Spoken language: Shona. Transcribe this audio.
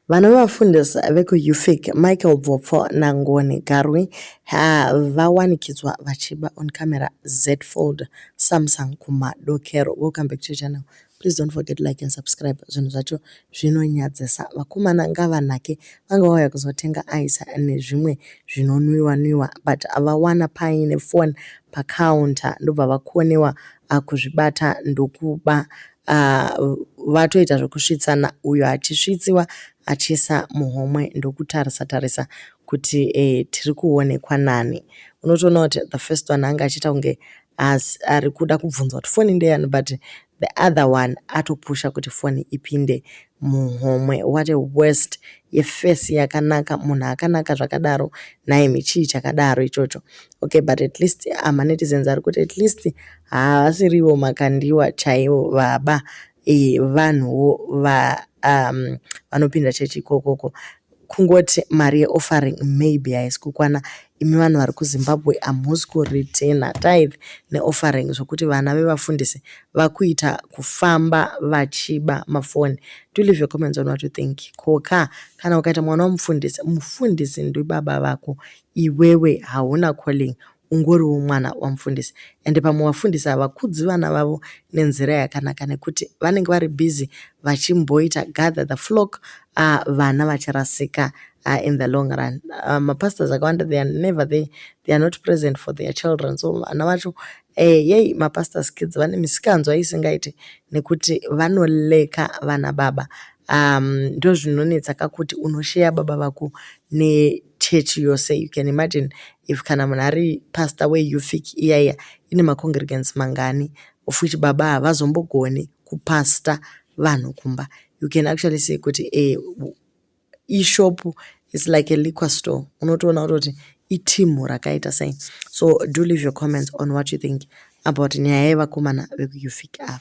Vanovafundisa vekuUFIC, Michael Bvopfo naNgoni Garwe, vawanikidzwa vachiba on camera Z-Fold Samsung kumadokero. Welcome back to channel. Please don't forget like and subscribe. Zvinhu zvacho zvinonyadzisa. Vakomana ngavanake vanga vauya kuzotenga ice nezvimwe zvinonwiwa nwiwa but vawana paine phone pacounter ndobva vakonewa ah, kuzvibata ndokuba Ah, vatoita zvekusvitsana uyo achisvitsiwa achiisa muhomwe ndokutarisa tarisa kuti eh, tiri kuonekwa nani unotoona kuti the first one anga achiita kunge as ari kuda kubvunza kuti foni ndeyani but the other one atopusha kuti foni ipinde muhomwe what a worst yefesi yakanaka munhu akanaka zvakadaro nhaimi chii chakadaro ichocho okay but at least amanetizens ah, ari kuti at least havasirivo makandiwa chaivo baba e, vanhuwo va um, vanopinda chechi ikokoko kungoti mari yeoffering maybe haisi kukwana imi vanhu vari kuzimbabwe hamusi kureturna tithe neoffering zvokuti vana vevafundisi vakuita kufamba vachiba mafoni do leave your comments on what you think koka kana ukaita mwana wamufundisi mufundisi ndibaba vako iwewe hauna calling ungoriwo mwana wamufundisi and pamwe vafundisi havakudzi vana vavo nenzira yakanaka nekuti vanenge vari busy vachimboita gather the flock uh, vana vacharasika uh, in the long run uh, mapastors akawanda they are never there they are not present for their children so vana vacho eh, yei mapastors kids vane misikanzwa isingaiti nekuti vanoleka vana baba um ndozvinonetsa ka kuti unosheya baba vako nechurch yose you can imagine if kana munhu ari pastor weufik iya iya ine macongregants mangani of which baba havazombogoni kupasta vanhu kumba you can actually say kuti e, ishop is like a liquor store unotoona kutoti itimu rakaita sei so do leave your comments on what you think about nyaya yevakomana vekuufik ava